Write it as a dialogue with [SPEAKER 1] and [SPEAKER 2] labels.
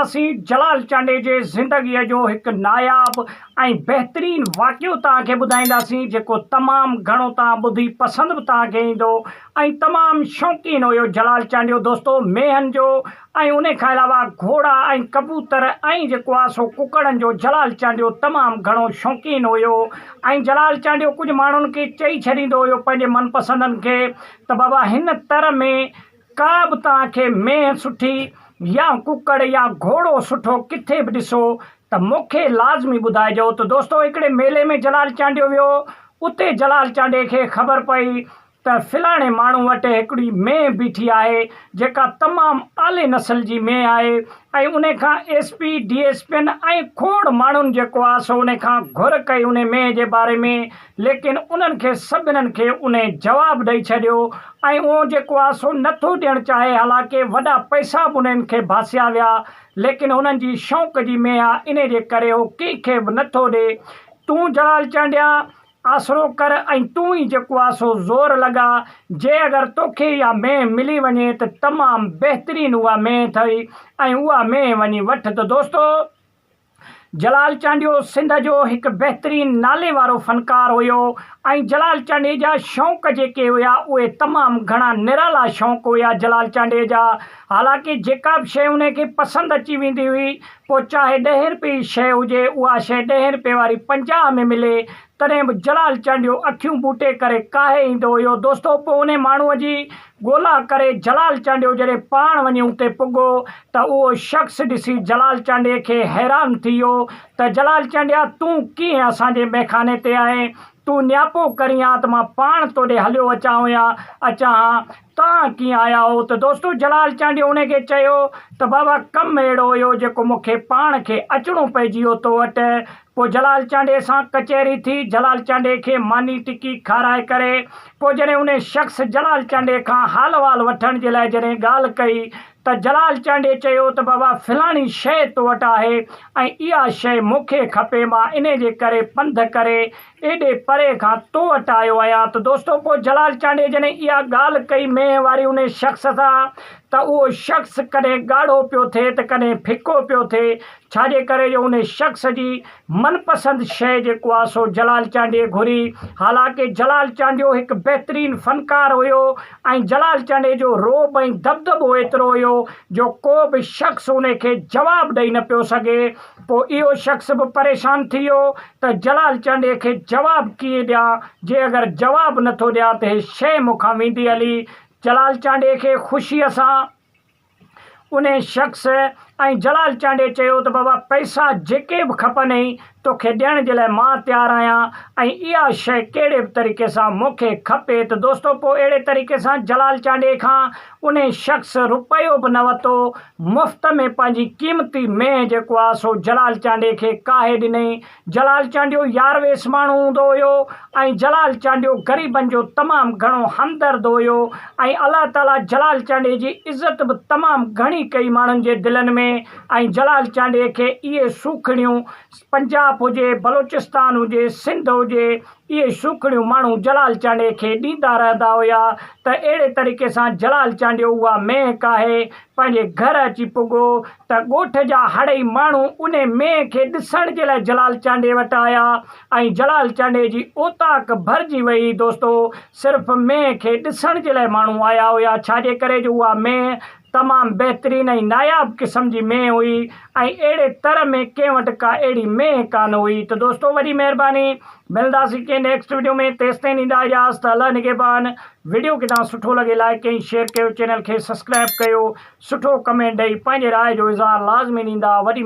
[SPEAKER 1] نصير جلال چانڊيي جي زندگيء جو هڪ ناياب ۽ بهترين واقعو توهان کي ٻڌائينداسين جيڪو تمام گهڻو توهان ٻڌي پسند به توهان کي ايندو ۽ تمام شوقين هيو جلال چانڊيو دوستو مينهن جو ۽ انهي کان علاوه گهوڙا ۽ ڪبوتر ۽ جيڪو آهي سو ڪڪڙن جو جلال چانڊيو تمام گهڻو شوقين هيو ۽ جلال چانڊيو ڪجهه ماڻهن کي چئي ڇڏيندو هيو پنهنجي من پسندن کي ته بابا هن تر ۾ ڪا به توهان کي مينهن سٺي يا ڪڪڙ يا گهوڙو سٺو ڪٿي به ڏسو ته مون کي لازمي ٻڌائجو ته دوستو هڪڙي ميلي ۾ جلال چانڊيو ويو اتي جلال چانڊي کي خبر پئي ته فلاڻي ماڻهو وٽ هڪڙي مينهن بيٺي آهي جيڪا تمام اعلي نسل جي مينهن آهي ۽ انهي کان ايس پي ڊي ايس پين ۽ کوڙ ماڻهن جيڪو آ سو انهي کان گهر ڪئي انهي مينهن جي باري ۾ ليڪن انهن کي سڀنن کي انهي جواب ڏئي ڇڏيو ۽ اهو جيڪو آهي سو نه ٿو ڏيڻ چاهي حالانڪه وڏا پئسا به انهن کي ڀاسيا ويا ليڪن هنن جي شوق جي مينهن آهي انهي جي ڪري هو ڪنهن کي به نه ٿو ڏي تون جلال چانڊيا آسرو ڪر ۽ تون ئي جيڪو آهي سو زور لڳاء جي اگر توکي اها مينهن ملي وڃي ته تمام بهترين اها مينهن اٿئي ۽ اها مينهن وڃي وٺ ته دوستو جلال چانڊيو سنڌ جو هڪ بهترين نالي وارو فنڪار هيو ۽ جلال چانڊيي جا شوق جيڪي هيا اهي تمام گهڻا نرالا شوق هيا جلال چانڊيي جا حالانڪه جيڪا به شيء انهي کي پسند اچي ويندي هئي پوء چاهي ڏهين رپئي جي شيء هجي اها شيء ڏهين رپئي واري پنجاهه ۾ ملي تڏهن به جلال چانڊيو اکيون ٻوٽي ڪري ڪاهي ايندو هيو. دوستو پوء انهي ماڻهوء جي ڳولا ڪري جلال چانڊيو جڏهن پاڻ وڃي اتي پڳو ته اهو شخص ڏسي جلال چانڊيي کي حيران ٿي ويو ته جلال چانڊيا تون ڪيئن اسان جي ميخاني تي آهين؟ تون نياپو ڪرين ها ته مان پاڻ تو ڏي هليو اچان هو يا اچان ها. توهان ڪيئن آيا هئو؟ ته دوستو جلال چانڊيو انهي کي چيو ته بابا ڪم اهڙو هيو جيڪو مون کي پاڻ کي اچڻو پئجي ويو تو وٽ پوء جلال چانڊيي سان ڪچهري ٿي، جلال چانڊيي کي ماني ٽڪي کارائي ڪري، پوء جڏهن انهي شخص جلال چانڊيي کان حال احوال وٺڻ جي لاء جڏهن ڳالهه ڪئي ته جلال چانڊيي چيو ته بابا فلاڻي شيء تو وٽ آهي ۽ اها شيء مونکي کپي مان انهي جي ڪري پنڌ ڪري ايڏي پري کان تو وٽ آيو آهيان ته دوستو پوء جلال چانڊيي جڏهن اها ڳالهه ڪئي مينهن واري انهي شخص سان ته اهو شخص ڪڏهن ڳاڙهو پيو ٿئي ته ڪڏهن ڦڪو پيو ٿئي ڇا جي ڪري جو انهي شخص جي من پسند شيء جيڪو آ سو جلال چانڊيي گهري. حالانڪه جلال چانڊيو هڪ بهترين فنڪار هيو ۽ جلال چانڊيي جو رعب ۽ دٻدٻو ايترو هيو جو ڪو به شخص انهي کي جواب ڏئي نه پيو سگهي. پو اهو شخص به پريشان ٿي ويو ته جلال چانڊيي کي جواب ڪيئن ڏيان جي اگر جواب نه ٿو ڏيان ته هي شيء مون کان ويندي هلي. جلال چانڊيي کي خوشيء سان. انهي شخص ۽ جلال چانڊيي چيو ته بابا پئسا جيڪي به کپنئي توکي ڏيڻ جي لاء مان تيار آهيان ۽ اها شيء ڪهڙي به طريقي سان مون کي کپي ته دوستو پوء اهڙي طريقي سان جلال چانڊيي کان انهي شخص روپيو به نه وتو مفت ۾ پنهنجي قيمتي مينهن جيڪو آهي سو جلال چانڊيي کي ڪاهي ڏنئي جلال چانڊيو يار ويس ماڻهو هوندو هيو ۽ جلال چانڊيو غريبن جو تمام گهڻو همدرد هيو ۽ الله تعالي جلال چانڊيي جي عزت به تمام گهڻي ڪئي ماڻهن جي دلن ۾ ۽ جلال چانڊيي کي اهي سوکڙيون پنجاب هجي بلوچستان هجي سنڌ هجي اهي سوکڙيون ماڻهو جلال چانڊيي کي ڏيندا رهندا هيا ته اهڙي طريقي سان جلال چانڊيو اها مهڪ آهي پنهنجي گهر اچي پڳو ته ڳوٺ جا هڙئي ماڻهو انهي مينهن کي ڏسڻ جي لاء جلال چانڊيي وٽ آيا ۽ جلال چانڊيي جي اوطاق ڀرجي ويئي. دوستو! صرف مينهن کي ڏسڻ جي لاء ماڻهو آيا هيا ڇا جي ڪري جو اها مينهن تمام بهترين ۽ ناياب قسم جي مينهن هئي ۽ اهڙي تر ۾ ڪنهن وٽ ڪا اهڙي مينهن ڪانه هئي ته دوستو وڏي مهرباني ملنداسين ڪنهن نيڪسٽ وڊيو ۾ تيستائين ڏيندا اجازت الله نگهبان وڊيو ڪدان سٺو لڳي لائيڪ ڪئين شيئر ڪيو چينل کي سسڪرائب ڪيو سٺو ڪمينٽ ڏئي پنهنجي راء جو اظهار لازمي ڏيندا وڏي